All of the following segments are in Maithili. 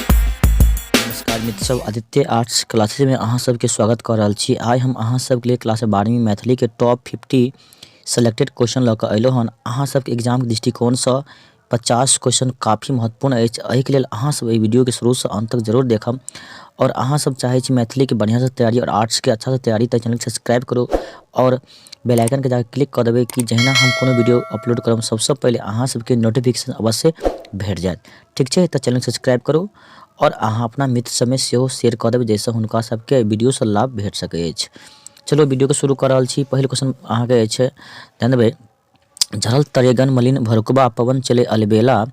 नमस्कार मित्र सब आदित्य आर्ट्स क्लासेस में अहाँ सबके स्वागत कऽ रहल छी आइ हम अहाँ सबके लिए क्लास बारहवीं मैथिली के टॉप फिफ्टी सेलेक्टेड क्वेश्चन लऽ कऽ अयलहुँ हन अहाँ सबके एग्जाम के दृष्टिकोणसँ पचास क्वेश्चन काफी महत्वपूर्ण अछि एहिके लेल अहाँ सब एहि वीडियोके शुरूसँ अन्त तक जरूर देखब आओर अहाँ सब चाहै छी मैथिलीके बढ़िआँसँ तैयारी आओर आर्ट्सके अच्छासँ तैयारी तऽ चैनलके सब्सक्राइब करू आओर बेल आइकनके जाकऽ क्लिक कऽ देबै कि जहिना हम कोनो वीडियो अपलोड करब सबसँ पहिले अहाँ सबके नोटिफिकेशन अवश्य भेट जायत ठीक छै तऽ चैनल सब्सक्राइब करू आओर अहाँ अपना मित्र सबमे सेहो शेयर कऽ देबै जाहिसँ हुनका सबके वीडियोसँ लाभ भेट सकै अछि चलो वीडियोके शुरू कऽ रहल छी पहिल क्वेश्चन अहाँके अछि ध्यान देबै झरल तरेगन मलिन भरुकबा पवन चले अलबेला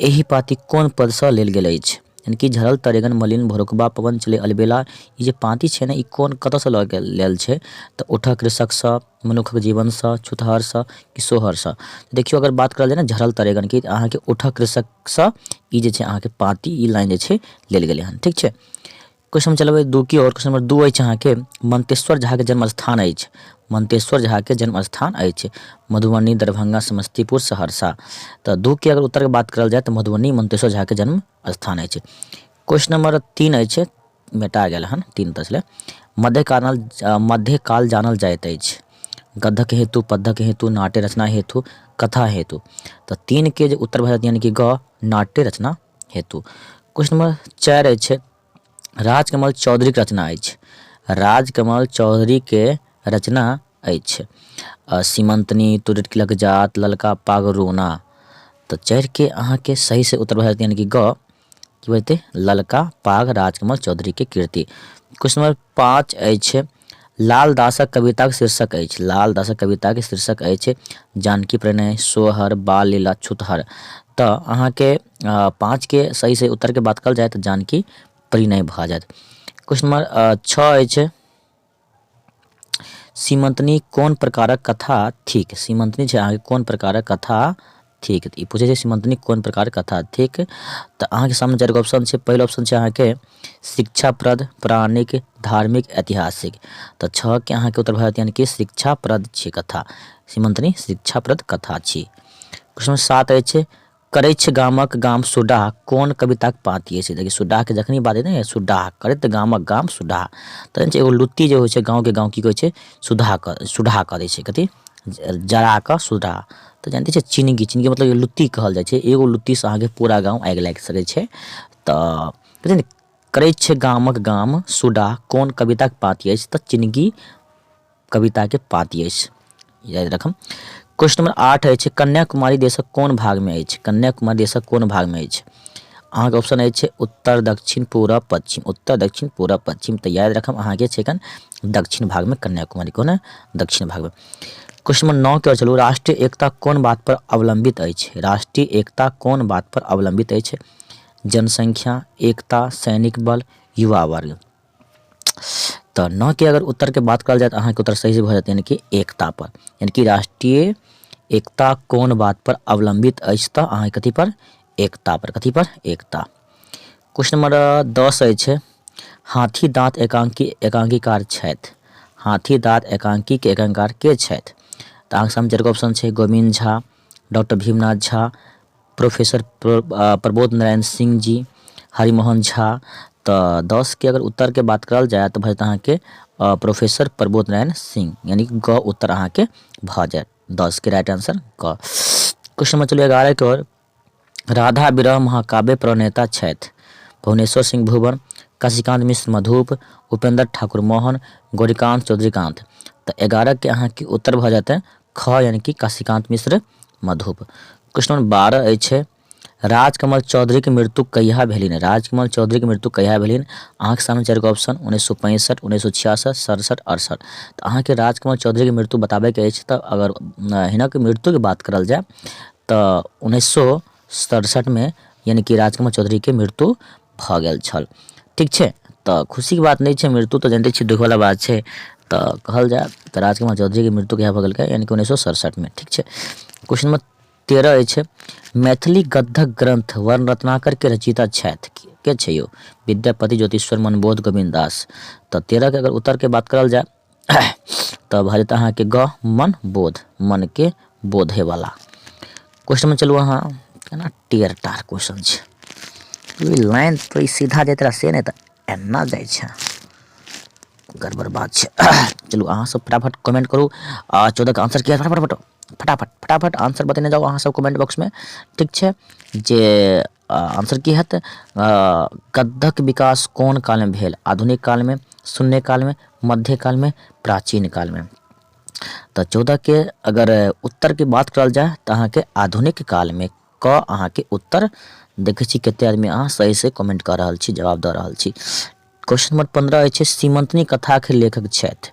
एहि पाँति कोन पदसँ लेल गेल अछि यानी कि झरल तरेगन मलिन भरुकबा पवन चले अलबेला ई जे पाँति छै ने ई कोन कतऽसँ लऽ गेल लेल छै तऽ उठह कृषकसँ मनुखक जीवनसँ छुतहरसँ कि सोहरसँ देखियौ अगर बात करल जाय ने झरल तरेगनके तऽ अहाँके उठह कृषकसँ ई जे छै अहाँके पाँति ई लाइन जे छै लेल गेलै हन ठीक छै क्वेश्चन नंबर चलबै दू की आओर क्वेश्चन नंबर दू अछि अहाँके मंतेश्वर झाके जन्मस्थान अछि मंतेश्वर झाके जन्मस्थान अछि मधुबनी दरभंगा समस्तीपुर सहरसा तऽ दू के अगर उत्तरके बात करल जाय तऽ मधुबनी मंतेश्वर झाके जन्म स्थान अछि क्वेश्चन नंबर तीन अछि मेटा गेल हन तीन तसले मध्यकाल मध्यकाल जानल जाइत अछि गद्धक हेतु पद्धक हेतु नाट्य रचना हेतु कथा हेतु तऽ तीनके जे उत्तर भए जायत यानि कि ग नाट्य रचना हेतु क्वेश्चन नंबर चारि अछि राजकमल चौधरीके रचना अछि राजकमल चौधरीके रचना अछि सीमंतनी तुरटलक जात ललका पाग रोना तऽ चारिके अहाँके सही से उत्तर भए यानी कि ग की बजतै ललका पाग राजकमल चौधरीके कृति क्वेश्चन नंबर पाँच अछि लाल दासक कविताक शीर्षक अछि। लाल दासक कविताक शीर्षक अछि जानकी प्रणय, सोहर, बाल लीला, छुतहर। तँ अहाँकेँ पाँच केँ सही सही उत्तर केँ बात कएल जाय तँ जानकी प्रणय भऽ जायत। क्वेश्चन नम्बर छह अछि सीमंतनी कोन प्रकारक कथा थिक? सीमंतनी छै अहाँकेँ कोन प्रकारक कथा। ठीक तऽ ई पूछै छै सीमंतनी कोन प्रकार कथा ठीक तऽ अहाँके सामने चारि गो ऑप्शन छै पहिल ऑप्शन छै अहाँके शिक्षाप्रद प्राणिक धार्मिक ऐतिहासिक तऽ छओके अहाँके उत्तर भए जायत यानि कि शिक्षाप्रद छी कथा सीमंतनी शिक्षाप्रद कथा छी प्रश्न सात अछि करैछ गामक गाम सुडाह कोन कविताक पाँति अछि देखिए सुडाहके जखनी बात हेतै ने सुडाह करैत गामक गाम सुडाह तऽ एगो लुत्ती जे होइ छै गाँवके गाँव की कहै छै सुधाह सुडाह करै छै कथी जरा कऽ सुधाह तऽ जानिते छियै चिनगी चिनगी मतलब एगो लुत्ती कहल जाइ छै एगो लुत्तीसँ अहाँके पूरा गाम आगि लागि सकै छै तऽ बुझलियै ने करै छै गामक गाम सुडा कोन कविताक पाती अछि तऽ चिनगी कविताके पाती अछि याद रखब क्वेश्चन नंबर आठ अछि कन्याकुमारी देशक कोन भागमे अछि कन्याकुमारी देशक कोन भागमे अछि अहाँके ऑप्शन अछि उत्तर दक्षिण पूरा पश्चिम उत्तर दक्षिण पूरा पश्चिम तऽ याद रखब अहाँके छै एखन दक्षिण भागमे कन्याकुमारी कोन दक्षिण भागमे क्वेश्चन नंबर नौ के और चलू राष्ट्रीय एकता कोन बात पर अवलंबित अछि राष्ट्रीय एकता कोन बात पर अवलंबित अछि जनसंख्या एकता सैनिक बल युवा वर्ग तो नौ के अगर उत्तर के बात कल जाए तो अहाँ के उत्तर सही से भर यानी कि एकता पर यानी कि राष्ट्रीय एकता कोन बात पर अवलंबित अछि तो अहाँ कथी पर एकता पर कथी पर एकता क्वेश्चन नंबर दस अछि हाथी दाँत एकांकी एकांकीकार छथि हाथी दाँत एकांकी के एकांकार के छथि तऽ अहाँके सामने चारिगो ऑप्शन छै गोविंद झा डॉक्टर भीमनाथ झा प्रोफेसर प्रबोध नारायण सिंह जी हरिमोहन झा तऽ दस के अगर उत्तर के बात करल जाय तऽ भजत अहाँके प्रोफेसर प्रबोध नारायण सिंह यानी कि ग उत्तर अहाँके भऽ जायत दस के राइट आंसर ग क्वेश्चन नंबर चलिए एगारह के और राधा विरह महाकाव्य प्रणेता छथि भुवनेश्वर सिंह भुवन, काशीकान्त मिश्र मधुप, उपेन्द्र ठाकुर मोहन, गौरीकान्त चौधरीकान्त। त एगारह के अहाँ के उत्तर भ जायत ख यानि कि काशीकान्त मिश्र मधुप। क्वेश्चन नंबर बारह अछि राजकमल चौधरी के मृत्यु कहिया भेलनि? राजकमल चौधरी के मृत्यु कहिया भेलनि? अहाँ के सामने चारि गो ऑप्शन उन्नैस सौ पैंसठ, उन्नैस सौ छियासठ, सड़सठ, अड़सठ। त अहाँ के राजकमल चौधरी के मृत्यु बताबय के अछि त अगर हिनक मृत्यु के बात करल जाय, त उन्नैस सए सड़सठि मे यानी कि राजकमल चौधरी के मृत्यु भ गेल छल ठीक छै तऽ खुशी के बात नहि छै मृत्यु तऽ जानते छी दुख वाला बात छै तऽ कहल जाय तऽ राजकुमार चौधरी के मृत्यु कहिया भऽ गेल यानी कि उन्नैस सए सड़सठि मे ठीक छै क्वेश्चन नंबर तेरह अछि मैथिली गद्धक ग्रंथ वर्ण रत्नाकर के रचयिता छथि के छै यौ विद्यापति ज्योतिश्वर मनबोध गोविंद दास तऽ तेरह के अगर उत्तर के बात करल जाय तऽ भऽ जेतै अहाँके ग मन बोध मनके बोधेवला क्वेश्चनमे चलू अहाँ केना टेर टार क्वेश्चन छै ई लाइन तो ई सीधा जाइत रहा से नहि तऽ एना जाइ छै गड़बड़ बात छै चलू अहाँसभ फटाफट कमेंट करू आ चौदहके आंसर किया फटाफट फटाफट फटाफट आंसर बतेने जाउ अहाँसभ कमेंट बॉक्समे ठीक छै जे आन्सर की हत गद्धक विकास कोन कालमे भेल आधुनिक कालमे शून्य कालमे मध्य कालमे प्राचीन कालमे तऽ चौदहके अगर उत्तरके बात करल जाय तऽ अहाँके आधुनिक कालमे क अहाँके उत्तर देखै छी कते आदमी अहाँ सही से कमेंट कऽ रहल छी जवाब दऽ रहल छी क्वेश्चन नंबर पंद्रह अछि सीमंतनी कथाके लेखक छथि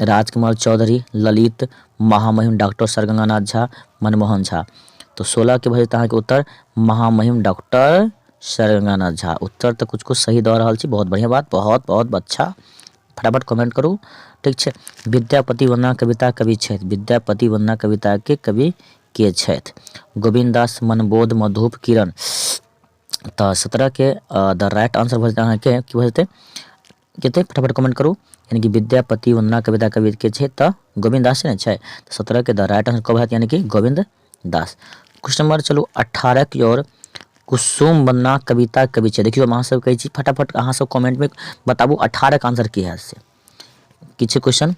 राजकमल चौधरी, ललित, महामहिम डॉक्टर सर गंगानाथ झा, मनमोहन झा। तो सोलह के भइल तहाँ के उत्तर महामहिम डॉक्टर सर गंगानाथ झा। उत्तर तो कुछ कुछ सही दऽ रहल छी बहुत बढ़िया बात बहुत बहुत अच्छा फटाफट कमेंट करू ठीक छै विद्यापति वंदना कविता कवि छथि विद्यापति वंदना कविता के कवि के छथि गोविंद दास मनबोध मधुप किरण तऽ सत्रह के द राइट आंसर भऽ जेतै अहाँके की भऽ जेतै के छै फटाफट कमेंट करू यानी कि विद्यापति वंदना कविता कवि के छै तऽ गोविंद दास ने छै तऽ सत्रह के द राइट आंसर कब हैत यानी कि गोविंद दास क्वेश्चन नंबर चलू अठारह की ओर कुसुम वंदना कविता कवि छै देखियो हम अहाँ सब कहै छी फटाफट अहाँ सब कमेंट में बताबू अठारह के आंसर की हैत से की छै क्वेश्चन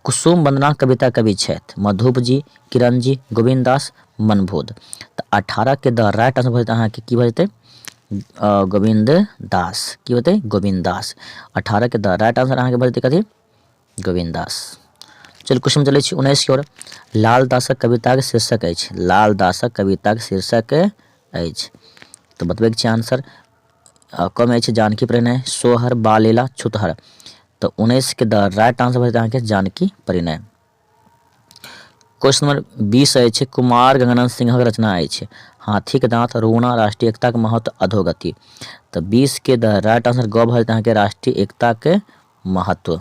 कुसुम वंदना कविता कवि छथि मधुप जी किरण जी गोविंद दास मनबोध तऽ अठारह के द राइट आंसर भऽ जेतै अहाँके की भऽ जेतै गोविन्द दास की होतै गोविन्द दास अठारहके द राइट आंसर अहाँके भऽ जेतै कथी गोविन्द दास चलू क्वेश्चन चलै छी उन्नैसके ओर लाल दासक कविताक शीर्षक अछि लाल दासक कविताक शीर्षक अछि तऽ बतबैके छै आंसर कमे अछि जानकी प्रणय सोहर बालीला छुतहर तऽ उन्नैसके द राइट आंसर भऽ जेतै अहाँके जानकी प्रणय क्वेश्चन नंबर बीस अछि कुमार गंगानंद सिंहक रचना अछि हाथीक दांत रोना राष्ट्रीय एकताक महत्व अधोगति तऽ बीस के द राइट आंसर ग भऽ जेतै अहाँके राष्ट्रीय एकताक महत्व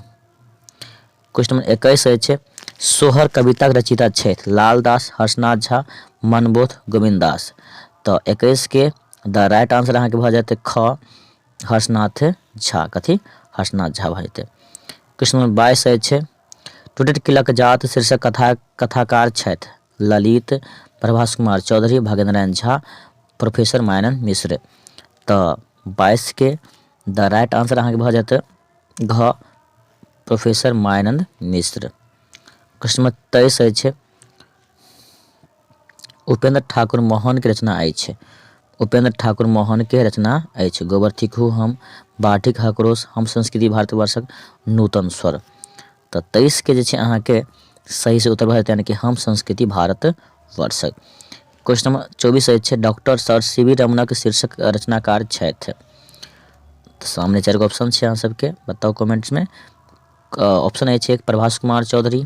क्वेश्चन नंबर एकैस अछि सोहर कविताक रचयिता छथि लालदास हर्षनाथ झा मनबोध गोविंद दास तऽ एकैस के द राइट आंसर अहाँके भऽ जेतै ख हर्षनाथ झा कथी हर्षनाथ झा भऽ जेतै क्वेश्चन नंबर बाईस अछि टुटैत किलक जात शीर्षक कथाक कथाकार छथि ललित, प्रभास कुमार चौधरी, भागेन्द्रनारायण झा, प्रोफेसर मायानन्द मिश्र। त बाइस के द राइट आन्सर अहाँके भ जायत घ प्रोफेसर मायानन्द मिश्र। प्रश्न नम्बर तेइस अछि उपेन्द्र ठाकुर मोहनके रचना अछि। उपेन्द्र ठाकुर मोहनके रचना अछि। गोबर थिकहु हम, बाढ़िक हकरोस, हम संस्कृति भारतवर्षक नूतन स्वर। तऽ तेइसके जे छै अहाँके सही से उत्तर भऽ जायत यानि कि हम संस्कृति भारतवर्षक। क्वेश्चन नंबर चौबीस अछि डॉक्टर सर सी वी रमणक शीर्षक रचनाकार छथि। तऽ सामने चारि गो ऑप्शन छै अहाँ सबके बताउ कमेंट्समे। ऑप्शन अछि एक प्रभास कुमार चौधरी।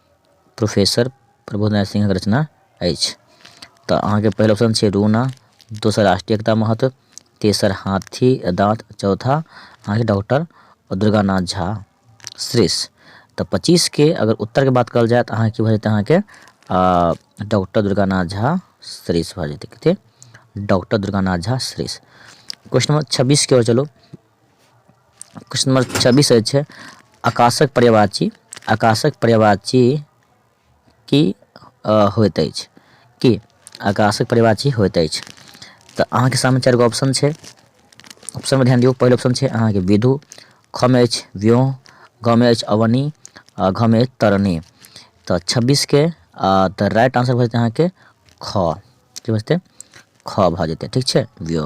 प्रोफेसर प्रबोध नारायण सिंहक रचना अछि तऽ अहाँके पहिल ऑप्शन छै रूना दोसर राष्ट्रीय एकता महत्व तेसर हाथी दाँत चौथा अहाँके डॉक्टर दुर्गानाथ झा श्रेष तऽ पच्चीसके अगर उत्तरके बात कल जाय तऽ अहाँके भऽ जेतै अहाँके डॉक्टर दुर्गानाथ झा श्रेष भऽ जेतै कते डॉक्टर दुर्गानाथ झा श्रेष क्वेश्चन नंबर छब्बीसके ओर चलू क्वेश्चन नंबर छब्बीस अछि आकाशक पर्यावाची आकाशक पर्यावाची की होइत अछि की आकाशक पर्यावाची होइत अछि तऽ अहाँके सामने चारि गो ऑप्शन छै ऑप्शनमे ध्यान दियौ पहिल ऑप्शन छै अहाँके विधु खमे अछि व्यो गमे अछि अवनी आ घमे अछि तरणी तऽ छब्बीसके तऽ राइट आंसर भऽ जेतै अहाँके ख की भऽ जेतै ख भऽ जेतै ठीक छै व्यो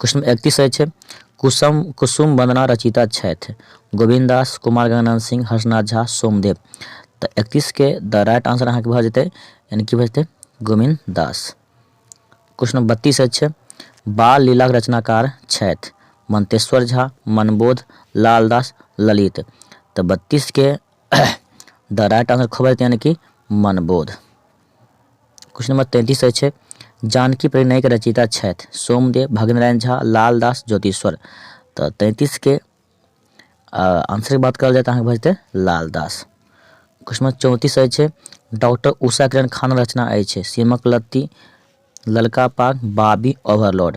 कृष्ण एकतीस अछि कुसुम कुसुम वंदना रचिता छथि गोविंद दास कुमार गंगनाथ सिंह हर्षनाथ झा सोमदेव तऽ एकतीसके द राइट आंसर अहाँके भऽ जेतै यानी कि भऽ जेतै गोविंद दास क्वेश्चन नंबर बत्तीस अछि बाल लीलाक रचनाकार छथि मंतेश्वर झा मनबोध लालदास ललित तऽ बत्तीसके द राइट आंसर खबर यानी कि मनबोध क्वेश्चन नंबर तैंतीस अछि जानकी प्रणयके रचयिता छथि सोमदेव भगनारायण झा लालदास ज्योतिश्वर तऽ तैंतीसके आंसरके बात करल जाय तऽ अहाँके भऽ जेतै लालदास क्वेश्चन नंबर चौंतीस अछि डॉक्टर उषा किरण खान रचना अछि सीमक लत्ती ललका पाग बाबी ओवरलोड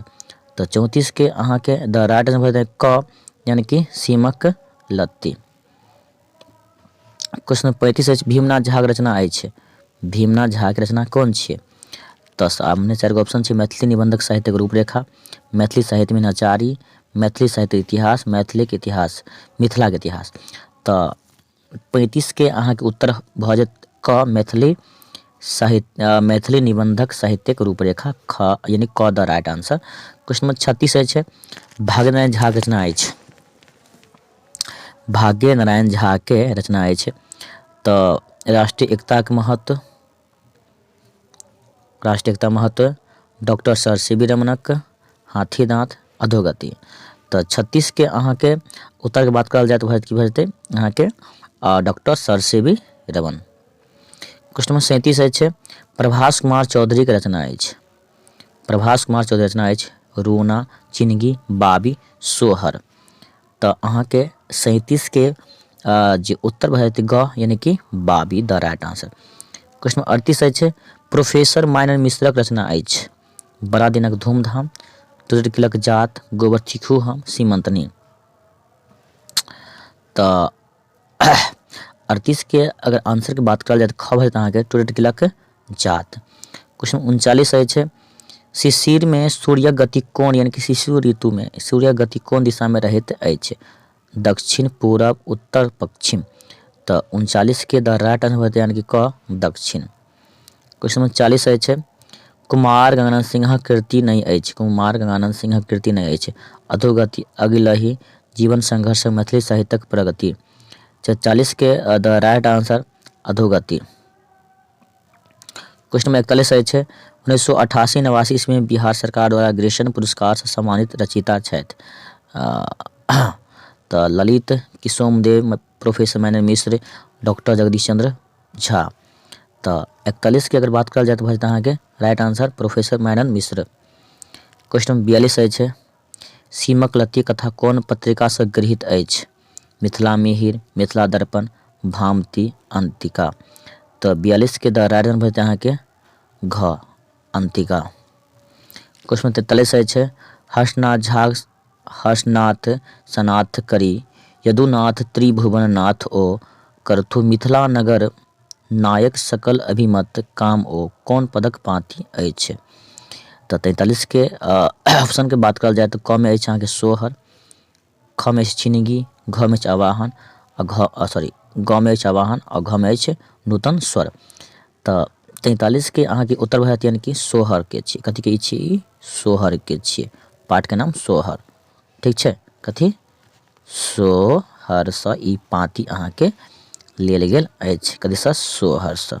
तऽ चौंतीसके अहाँके द राइट आंसर भऽ जेतै क यानी कि सीमक लत्ती क्वेश्चन नंबर पैंतीस अछि भीमनाथ झाक रचना अछि भीमनाथ झाक रचना कोन छियै तऽ सामने चारि गो ऑप्शन छै मैथिली निबंधक साहित्यक रूपरेखा मैथिली साहित्य में नचारी मैथिली साहित्य इतिहास मैथिलीक इतिहास मिथिलाक इतिहास तऽ पैंतीसके अहाँके उत्तर भऽ जायत क मैथिली साहित्य मैथिली निबंधक साहित्यक रूपरेखा ख यानी क the right answer question number छत्तीस अछि भागनारायण झाक रचना अछि भाग्य नारायण झाके रचना अछि तऽ राष्ट्रीय एकताके महत्व राष्ट्रीय एकता महत्व डॉक्टर सर सी वी रमनक हाथी दाँत अधोगति तऽ छत्तीसके अहाँके उत्तरके बात करल जाय तऽ की भऽ जेतै अहाँके doctor sir C V Raman question number सैंतीस अछि प्रभास कुमार चौधरीके रचना अछि प्रभास कुमार चौधरी रचना अछि रोना चिनगी बाबी सोहर तऽ अहाँके सैंतीसके जे उत्तर भऽ जायत ग यानि कि बाबी the right answer question number अड़तीस अछि प्रोफेसर माइनर मिश्रक रचना अछि बड़ा दिनक धूमधाम तुरट किलक जात गोबर चीखू हम सीमंतनी तऽ अड़तीसके अगर आंसरके बात करल जाय तऽ खब हेत अहाँके टूरिट गिलक जात क्वेश्चन उनचालीस अछि शिशिरमे सूर्य गति कोन यानी कि शिशु ऋतुमे सूर्य गति कोन दिशामे रहैत अछि दक्षिण पूरब उत्तर पश्चिम तऽ उनचालीसके द राइट आंसर होतै यानी कि क दक्षिण क्वेश्चन नंबर चालीस अछि कुमार गंगानंद सिंहक कृति नहि अछि कुमार गंगानंद सिंहक कृति नहि अछि अधोगति अगिलहि जीवन संघर्ष मैथिली साहित्यक प्रगति चालीसके द राइट आंसर अधोगति क्वेश्चन नंबर इकतालीस अछि उन्नैस सौ अठासी नवासी ईस्वी में बिहार सरकार द्वारा ग्रेशन पुरस्कार से सम्मानित रचयिता छथि तऽ ललित किशोमदेव प्रोफेसर माइनर मिश्र डॉक्टर जगदीश चंद्र झा तो इकतालीस की अगर बात कल जाए तो भाई अहाँ के राइट आंसर प्रोफेसर माइनर मिश्र क्वेश्चन नंबर बयालीस अछि सीमक लती कथा कौन पत्रिका से गृहित अछि मिथिला मिहिर मिथिला दर्पण भामती अंतिका तो बयालीस के द राइट आंसर भाई अहाँ के घ अंतिका क्वेश्चन नंबर तैतालीस अछि हर्षनाथ झा हर्षनाथ सनाथ करी यदुनाथ त्रिभुवन नाथ ओ करथु मिथिला नगर नायक सकल अभिमत काम ओ कोन पदक पाँति अछि तऽ तैंतालीस के ऑप्शन के बात करल जाय तऽ क मे अछि अहाँके सोहर ख मे अछि चिनगी घ मे अछि आवाहन आ घ सॉरी ग मे अछि आवाहन आ घ मे अछि नूतन स्वर तऽ तैंतालीसके अहाँके उत्तर भए जायत यानि कि सोहरके छियै कथीके ई छियै ई सोहरके छियै पाठके नाम सोहर ठीक छै कथी सोहरसँ ई पाँति अहाँके लेल गेल अछि कथीसँ सोहरसँ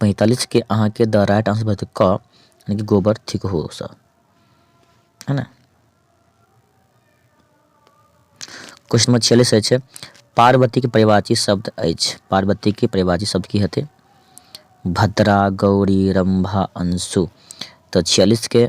पैंतालीस के अहाँ के द राइट आंसर भेटत क यानी कि गोबर ठीक हो सर है ना क्वेश्चन नंबर छियालीस अछि पार्वती के परिवाची शब्द अछि पार्वती के परिवाची शब्द की हेतै भद्रा गौरी रंभा अंशु तो छियालीस के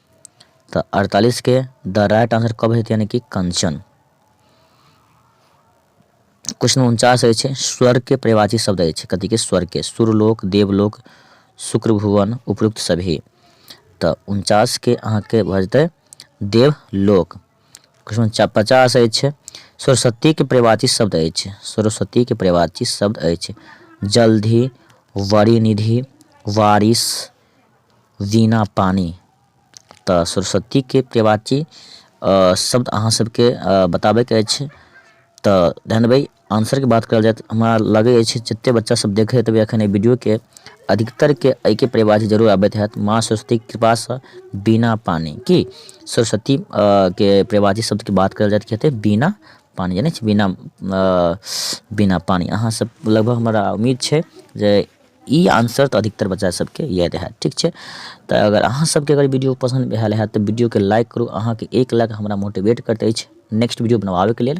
तऽ अड़तालीस के द राइट आंसर कब हेतै यानी कि कंचन क्वेश्चन उनचास अछि स्वर्ग के परिवाची शब्द अछि कथी के स्वर्ग के सुरलोक देवलोक शुक्र भुवन उपयुक्त सभी तऽ उनचास के अहाँ के भऽ जेतै देवलोक क्वेश्चन पचास अछि सरस्वती के परिवाची शब्द अछि सरस्वती के परिवाची शब्द अछि जल्दी वरिनिधि वारिस दीना पानी तऽ सरस्वतीके प्रेवाची शब्द अहाँ सबके बताबैके अछि तऽ ध्यान देबै आन्सरके बात करल जाय तऽ हमरा लगै अछि जतेक बच्चासभ देखै हेतबै एखन एहि वीडियोके अधिकतरके एहिके प्रेवाची जरूर आबैत हैत माँ सरस्वतीके कृपासँ बिना पानी की सरस्वती के प्रेवाची शब्दके बात करल जाय तऽ हेतै बिना पानी जानै छी बिना बिना पानी अहाँसभ लगभग हमरा उम्मीद छै जे ई आन्सर तऽ अधिकतर बच्चा सबके इएह रहै ठीक छै तऽ अगर अहाँ सबके अगर वीडियो पसन्द भेल हैत तऽ वीडियोके लाइक करू अहाँके एक लाइक हमरा मोटिवेट करते अछि नेक्स्ट वीडियो बनबाबैके लेल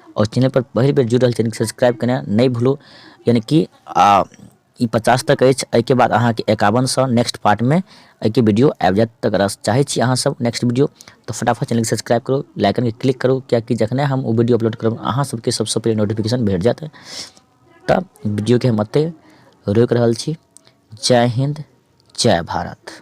आओर चैनलपर पहिल बेर जुड़ि रहल छी सब्सक्राइब केनाइ नहि भूलू यानि कि ई पचास तक अछि एहिके बाद अहाँके एकावन सए नेक्स्ट पार्टमे एहिके वीडियो आबि जायत तऽ अगर चाहै छी अहाँसभ नेक्स्ट वीडियो तऽ फटाफट चैनलके सब्सक्राइब करू लाइकनके क्लिक करू कियाकि जखने हम ओ वीडियो अपलोड करब अहाँ सबके सबसँ पहिले नोटिफिकेशन भेट जायत तऽ वीडियोके हम एतय रोकि रहल छी जय हिन्द जय भारत